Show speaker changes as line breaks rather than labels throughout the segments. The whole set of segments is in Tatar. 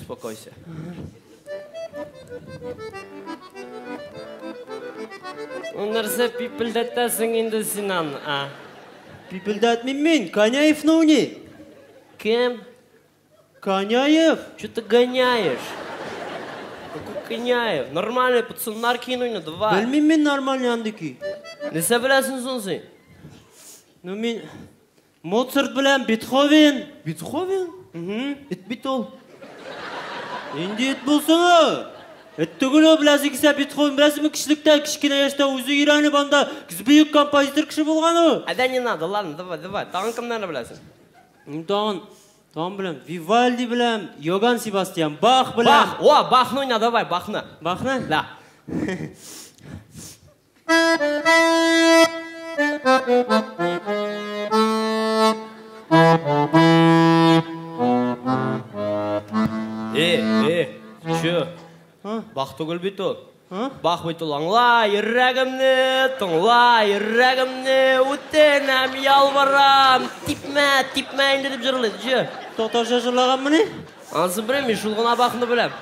Успокойся. Нәрсә пипелдәтәсең инде син аны, а? Пипелдәтмим
мин, Коняевны уйный. Кем? Коняев. Что ты
гоняешь? Какой Коняев? Нормальный пацан, нар кино не давай. Белмим мин нормальный
андыки. Нәрсә беләсең
соң син? Ну
мин Моцарт белән Бетховен! Бетховен?
Мхм. Эт бит
ул. Нинди эт булсын ул? Эт түгел ул, беләсең килсә, Бетховен беләсеңме, кечелектә, кечкенә яшьтә үзе өйрәнеп анда бөек композитор кеше булган ул. Ә дә не надо, ладно,
давай, давай, тагын кемнәрне беләсең? Мин тагын,
тагын беләм, Вивальди беләм, Йоган Себастьян Бах беләм. Бах, о, Бахны уйна,
давай, Бахны. Бахны? Да. түгел бит ул бах бит ул аңла йөрәгемне тыңла йөрәгемне үтенәм ялварам типмә типмә инде дип җырлый җы татарча җырлаганмыни
анысы белмим
шул гына бахны беләм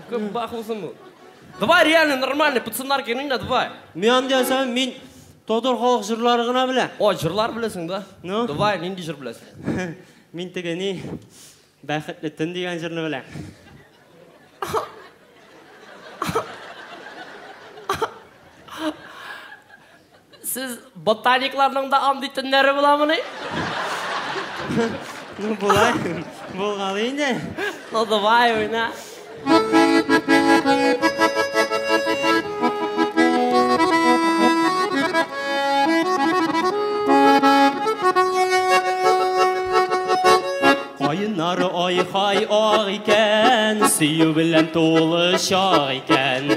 күп бах булсын бу Давай реально нормальный пацаннар генә инде давай. Мин андый әсәм, мин
татар халык җырлары гына белә. О, җырлар беләсең да?
Ну. Давай, нинди җыр
беләсең?
Мин теге ни
Бәхетле төн дигән җырны беләм.
Сез ботаникларның да андый төннәре буламыни?
Ну, була. Булган инде. Ну, давай,
уйна.
Кайнар ай хай ак икән, сөю белән тулы чак икән.